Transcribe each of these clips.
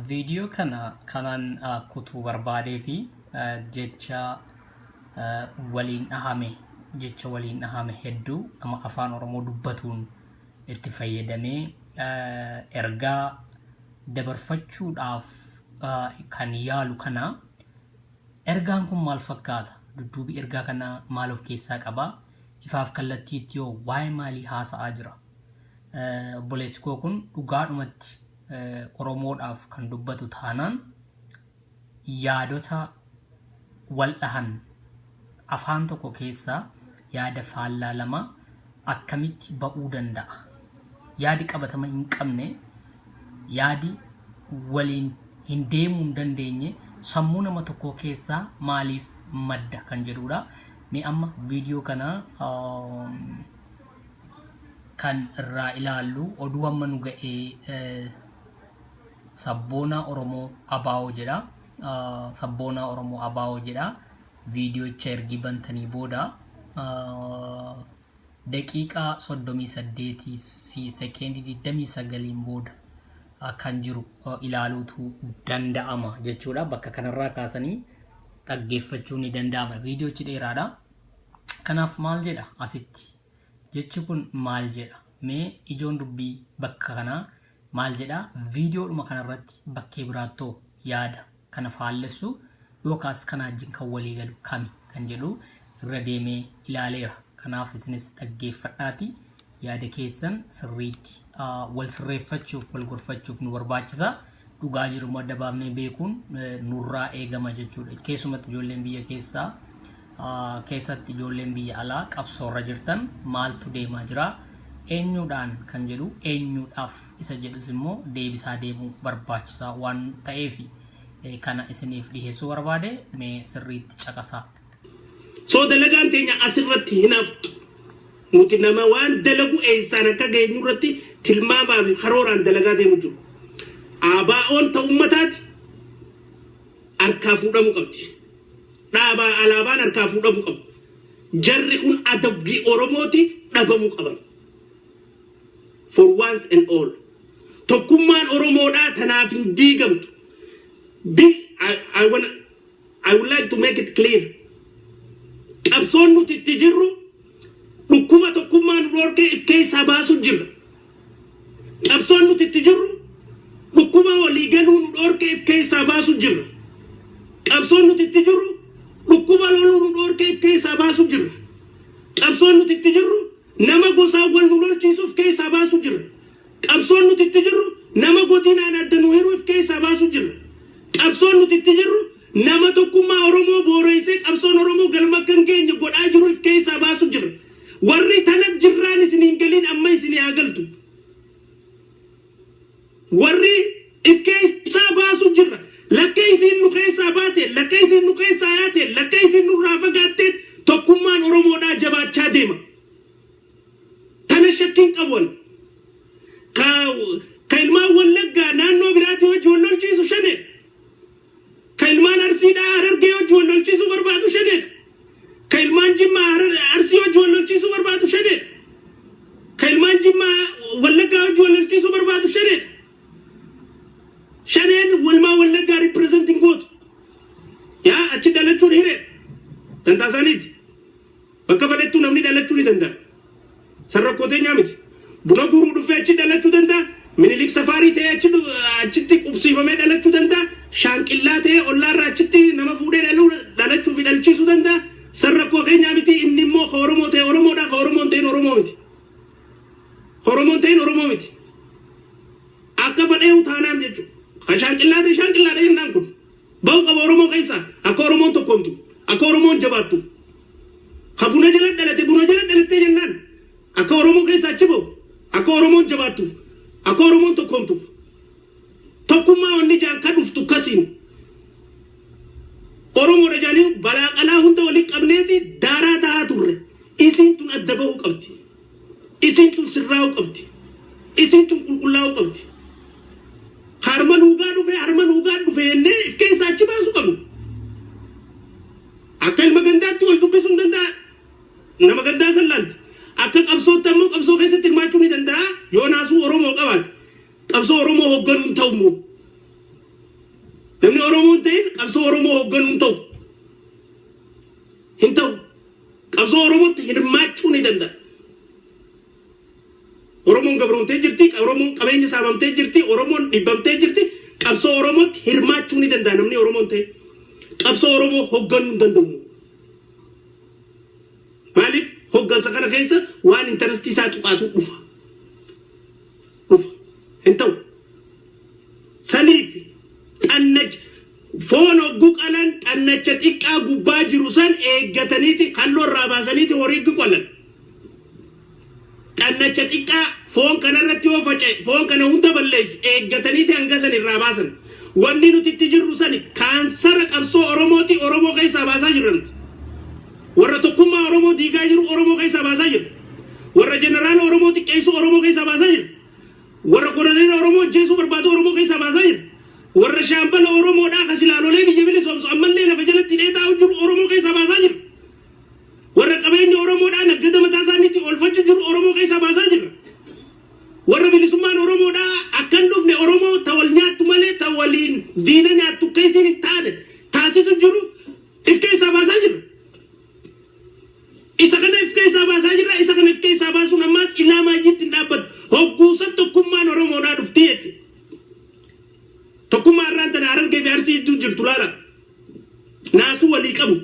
Viidiyoo kana kanan kutuu barbaadee fi jecha waliin dhahame jecha waliin dhahame hedduu nama afaan Oromoo dubbatuun itti fayyadamee ergaa dabarfachuudhaaf kan yaalu kana ergaan kun maal fakkaata? Dudduubi ergaa kana maal of keessaa qaba? Ifaaf kallattiitti yoo waa'ee maalii haasa'aa jira? obboleessi koo kun dhugaadhumatti Oromoodhaaf kan dubbatu taanaan yaadota waldhahan afaan tokko keessaa yaada faallaa lama akkamitti ba'uu danda'a? Yaadi qabatama hin qabne, yaadi waliin hin deemuu hin dandeenye sammuu nama tokkoo keessaa maaliif madda kan jedhudha. Mee amma viidiyoo kana kan irraa ilaallu oduu amma nu ga'e sabboonaa Oromoo Abaawoo jedha. Sabboonaa Oromoo Abaawoo jedha. Viidiyocha ergii bantanii booda daqiiqaa 38 fi sekeendii 29 booda kan jiru ilaaluutu danda'ama jechuudha. Bakka kanarraa kaasanii dhaggeeffachuun ni danda'ama. Viidiyochi dheeraadha. Kanaaf maal jedha asitti? Jechi kun maal jedha? Mee ijoon dubbii bakka kanaa maal jedha? Viidiyoodhuma kanarratti bakkee biraattoo yaada kana faallessu yookaas kana wajjin kan walii galu kami kan jedhu irra deemee ilaaleera. Kanaaf isinis dhaggeeffadhaatii yaada keessan sirriitti wal sirreeffachuuf wal gorfachuuf nu barbaachisa. Dhugaa jiru immoo adda baafnee beekuun nurraa eegama jechuudha. Keessumatti ijoolleen biyya keessaa keessatti ijoolleen biyya alaa qabsoorra jirtan maaltu deemaa jira? Eenyuudhaan kan jedhu eenyuudhaaf isa jedhus immoo deebisaa deemuu barbaachisaa waan ta'eefi kana isiniif dhiheessuu barbaade mee sirriitti caqasaa. So dalagaan teenya asirratti hin haftu. Nuti nama waan dalagu eessaan akka geenyurratti tilmaamaa fi karooraan dalagaa deemu jiru. ABOn ta ummataati harkaa fuudhamu qabdi. Dhaabaa alaabaan harkaa fuudhamu qabu. Jarri kun adabbii Oromooti dhabamu qaban. For once and all. Tokkummaan Oromoodhaa tanaaf hin diigamtu. Bi- I- I wanna- I would like to make it clear qabsoon nuti itti jirru dhukkuba tokkummaa nu dhorkee if keessaa baasuu jirra. Qabsoon nuti itti jirru dhukkuba walii galuu nu dhorkee if keessaa baasuu jirra. Qabsoon nuti itti jirru dhukkuba loluu nu dhorkee if keessaa baasuu jirra. Qabsoon nuti itti jirru Nama gosaan wal nu lolchiisu if keessaa baasu jirra. Qabsoon nuti itti jirru nama godinaan adda nu hiru if keessaa baasu jirra. Qabsoon nuti itti jirru nama tokkummaa Oromoo booreessee qabsoon Oromoo galma akka hin geenye godhaa jiru if keessaa baasu jirra. Warri tana jirraan isin hin galiin amma isinii haa galtu. Warri if keessaa baasu jirra. Lakkee isiin nu keessaa baateen, lakkee isiin nu keessaa yaateen, lakkee isiin nurraa fagaatteen tokkummaan Oromoodhaa jabaachaa deema. Tana shakki hin qabu ani. Ka, ka ilmaan Wallaggaa naannoo biraatii wajji wal lolchiisu Shaneedha. Ka ilmaan Arsiidhaa Harargee wajji wal lolchiisuu barbaadu Shaneedha. Ka ilmaan Jimmaa Harar Arsii wajji wal lolchiisuu barbaadu Shaneedha. Ka ilmaan Jimmaa Wallaggaa wajji wal lolchiisuu barbaadu Shaneedha. Shaneen walmaa Wallaggaa represent hin gootu. Yaa achi dhalachuun hireedha. Dantaa isaaniiti. Bakka fedhettuu namni dhalachuu ni danda'a. San rakkoo teenyaa miti. Buna guuruu dhufee achi dhalachuu danda'a. Minilik safaarii ta'ee achi dhu- achitti qubsiifamee dhalachuu danda'a. Shaanqillaa ta'ee ollaarraa achitti nama fuudhee dhaluu dhalachuu fi dhalchiisuu danda'a. San rakkoo keenyaa miti. Inni immoo ka Oromoo ta'e Oromoodha, ka Oromoo hin ta'in Oromoo miti. Ka Oromoo hin ta'in Oromoo miti. Akka fedheehu taanaan jechuudha. Ka shaanqillaa ta'e shaanqillaadha jennaan kun. Bahu qaba oromoo keessaa akka oromoon tokkoomtu akka oromoon jabaattuuf ka buna jala dhalate buna jala dhalattee jennaan akka oromoo keessaa achi bahu akka oromoon jabaattuuf akka oromoon tokkoomtuuf tokkummaa wanni jaan ka dhuftu kasiin oromoodha jaanii balaa qalaa hunda wali qabneeti daaraa tahaa turre isiin tun adda bahuu qabdi. Isiin tun sirraa'uu qabdi. Isiin tun qulqullaa'uu qabdi. Ka arma nuugaa dhufe arma nuugaa dhufe jennee if keessaa achi baasuu qabna. Akka ilma gandaatti wal dubbisuu hin danda'a. Nama gandaa san laalti. Akka qabsootti ammoo qabsoo keessatti hirmaachuu ni danda'a. Yoo naasuu Oromoo qabaate qabsoo Oromoo hoogganuu hin ta'u immoo. Namni Oromoo hin ta'in qabsoo Oromoo hoogganuu hin ta'u. Hin ta'u. Qabsoo Oromootti hirmaachuu ni danda'a. Oromoon gabroomtee jirti, Oromoon qabeenya saamamtee jirti, Oromoon dhibbamtee jirti, qabsoo Oromootti hirmaachuu ni danda'a namni Oromoon ta'e. Qabsoo Oromoo hogganuu hin danda'u. Maaliif hoggansa kana keessa waan intarastii isaa tuqaatu dhufa. Dhufa. Hin ta'u. Saniif xannacha Foon hoggu qalan xannacha xiqqaa gubbaa jiru san eeggataniiti kalloo irraa baasaniiti horiiggu qalan. Xannacha xiqqaa foon kana irratti yoo faca'e foon kana hunda balleessu eeggataniiti hanga san irraa baasan. Wanni nuti itti jirru sani kaansara qabsoo Oromooti Oromoo keessaa baasaa jirra nuti. Warra tokkummaa Oromoo diigaa jiru Oromoo keessaa baasaa jirra. Warra jeneraala Oromoo xiqqeessu Oromoo keessaa baasaa jirra. Warra koloneela Oromoo ajjeesuu barbaadu Oromoo keessaa baasaa jira. Warra shaambala Oromoodhaa ka silaa lolee biyya bilisoomsu ammallee lafa jalatti hidhee taa'u jiru Oromoo keessaa baasaa jirra. Warra qabeenya Oromoodhaa naggada mataa isaaniitti oolfachu jiru Oromoo keessaa baasaa jirra. Warra bilisummaan Oromoodhaa akka hin dhufne Oromoo ta wal nyaattu malee ta waliin diina nyaattu akka isiin hin taane taasisu jiru if keessaa baasaa jirra. Isa kana if keessaa baasaa jirra. Isa kana if keessaa baasuun ammaas ilaa maayyiitti hin dhaabbatu. Hogguu san tokkummaan Oromoodhaa dhufti jechuudha. Tokkummaa har'aan tana Harargee fi Arsii jidduu jirtu laala. Naasuu walii qabu.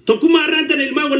Tokkummaa har'aan tana ilmaan wallaggaa